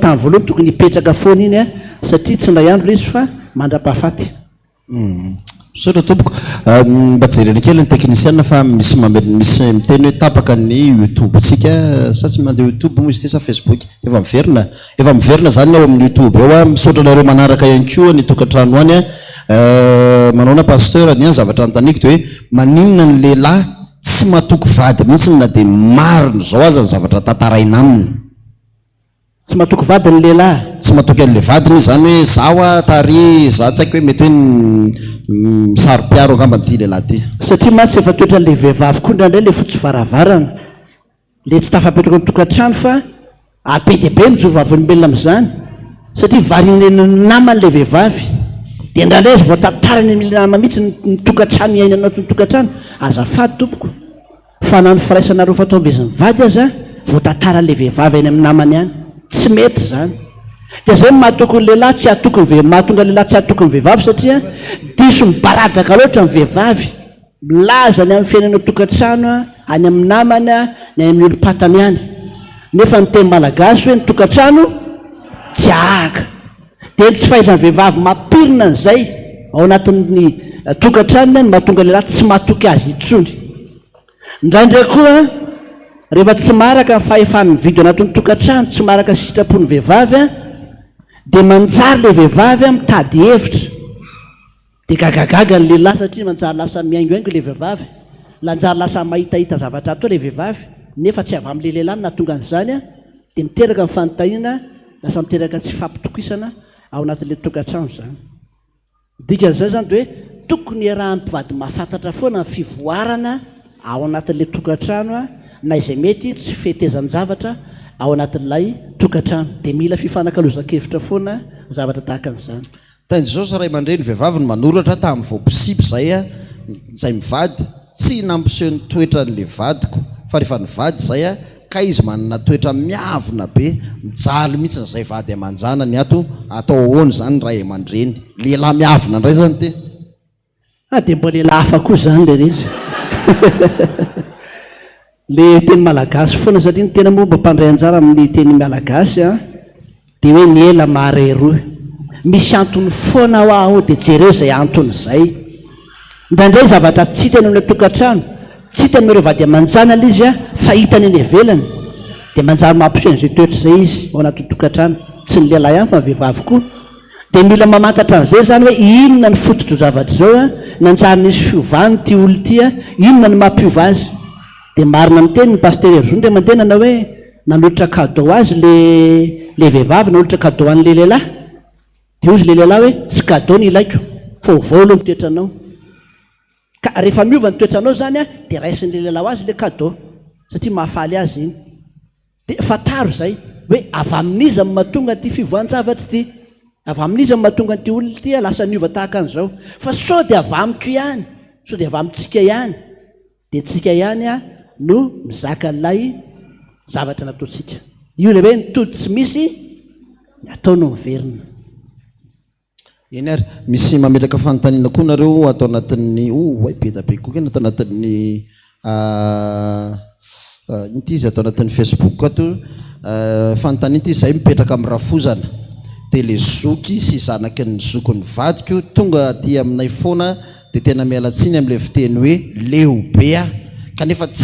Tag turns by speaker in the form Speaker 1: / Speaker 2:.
Speaker 1: Tany voalohany tokony hipetraka foana iny a, satria tsy indray andro ilay izy fa mandrapahafaty.
Speaker 2: Misaotra tompoko. Mba jerena kely ny teknisiana fa misy misy miteny hoe tapaka ny youtube tsika sa tsy mandeha youtube moa izy ity sa facebook? Efa miverina efa miverina zany ao amin'ny youtube ao a. Misaotra anareo manaraka ihany koa any tokantrano any a. Manaona pasteur ny ahy zavatra anotaniko de hoe maninona ny lehilahy tsy matoky vady mihitsy na dia marina izao aza ny zavatra tantaraina aminy?
Speaker 1: Tsy matoky vadiny ny lehilahy. Tsy matoky an'ilay vadiny
Speaker 2: izy izany hoe za hoa ta ary za tsy haiko hoe mety hoe misaro-piaro angambany ity lehilahy ity. Satria mantsy efa
Speaker 1: toetran'ilay vehivavy koa indraindray ilay fotsy varavarana, ilay tsy tafapetraka ao an-tokantrano fa ary be dia be ny zo vavolombelona amin'izany satria varian'ny namany ilay vehivavy dia indraindray aza voatantarany amin'ilay namany mihitsy ny tokantrano iainany ao an-tokantrano, azafady tompoko. Fa na ny firaisana roa fatombizin'ny vady aza voatataran'ilay vehivavy any amin'ny namany any. Tsy mety izany. Dia izay no mahatoky ny lehilahy tsy hatoky ny vehivavy, mahatonga ny lehilahy tsy hatoky ny vehivavy satria diso mibaradaka loatra ny vehivavy. Milaza ny amin'ny fiainany ao an-tokantrano, any amin'ny namany, ny any amin'ny olom-patany any. Nefa ny teny malagasy hoe ny tokantrano tsy ahaka. Dia ny tsy fahaizan'ny vehivavy mampirina an'izay ao anatin'ny tokantranony no mahatonga ny lehilahy tsy matoky azy intsony. Indraindray koa, rehefa tsy maharaka ny fahefany mividy ao anatin'ny tokantrano, tsy maharaka ny sitrapon'ny vehivavy, dia manjary ilay vehivavy mitady hevitra. Dia gagagaga ny lehilahy satria nanjary lasa mihaingohaingo ilay vehivavy. Lanjary lasa mahitahita zavatra atao ilay vehivavy, nefa tsy avy amin'ilay lehilahy no nahatonga an'izany, dia miteraka ny fanontaniana, lasa miteraka tsy fampitokisana ao anatin'ilay tokantrano izany. Ny dikan'izay izany dia hoe tokony hiarahan'ny mpivady mahafantatra foana ny fivoarana ao anatin'ilay tokantrano na izay mety tsy fetezan-javatra ao anatin'ilay tokantrano. Dia mila fifanakalozan-kevitra foana zavatra tahaka an'izany. Tainjosy ray
Speaker 2: aman-dreny vehivavy no manoratra tamin'ny vao mpisipy izay aho, izay mivady, tsy nampiseho ny toetran'ilay vadiko, fa rehefa nivady izay aho, kay izy manana toetra miavona be, mijaly mihitsy ny izay vady aman-janany, ato atao ahoana izany ny ray aman-dreny, lehilahy miavona indray izany te. Ah dia
Speaker 1: mbola ela hafa koa izany ilay izy e! Ilay teny malagasy foana satria ny tena moa mba mpandray anjara amin'ny teny malagasy an, dia hoe ny ela mahare rohy. Misy antony foana hoa ao dia jereo izay antony izay. Indraindray zavatra tsy hitany ao ilay tokantrano, tsy hitany amin'ireo vady aman-janany izy an, fa hitany any ivelany. Dia manjary mampiseho an'izay toetra izay izy ao anatin'ny tokantrano. Tsy ny lehilahy ihany fa ny vehivavy koa. Dia mila mamantatra an'izay izany hoe inona ny fototr'izao zavatra izao a, nanjary nisy fiovana ity olona ity a, inona no mampiova azy. Dia marina ny tenin'i Pasitera Hery Zonriamandenana hoe nanolotra cadeau ho azy ilay ilay vehivavy nanolotra cadeau ho an'ilay lehilahy. Dia hozy ilay lehilahy hoe tsy cadeau ny ilaiko fa ovao aloha ny toetranao. Ka rehefa miova ny toetranao izany a, dia raisin'ilay lehilahy ho azy ilay cadeau satria mahafaly azy iny. Dia fantaro izay, hoe avy amin'iza no mahatonga an'ity fivoahan-javatra ity? Avy amin'iza no mahatonga an'ity olona ity lasa niova tahaka an'izao? Fa sao dia avy amiko ihany? Sao dia avy amintsika ihany? Dia antsika ihany no mizaka an'ilay zavatra nataontsika. Io ilay hoe ny tody tsy misy ny atao no miverina.
Speaker 2: Eny ary, misy mametraka fanontaniana koa nareo ato anatin'ny oay be da be koa kena ato anatin'ny ino ty izy ato anatin'ny facebook ato fanontaniana ty zay mipetraka amin'ny rafozana de le zoky sy zanaky ny zokin'ny vadiko tonga aty aminay foana de tena miala tsiny amle fiteny hoe leo be aho kanefa tsy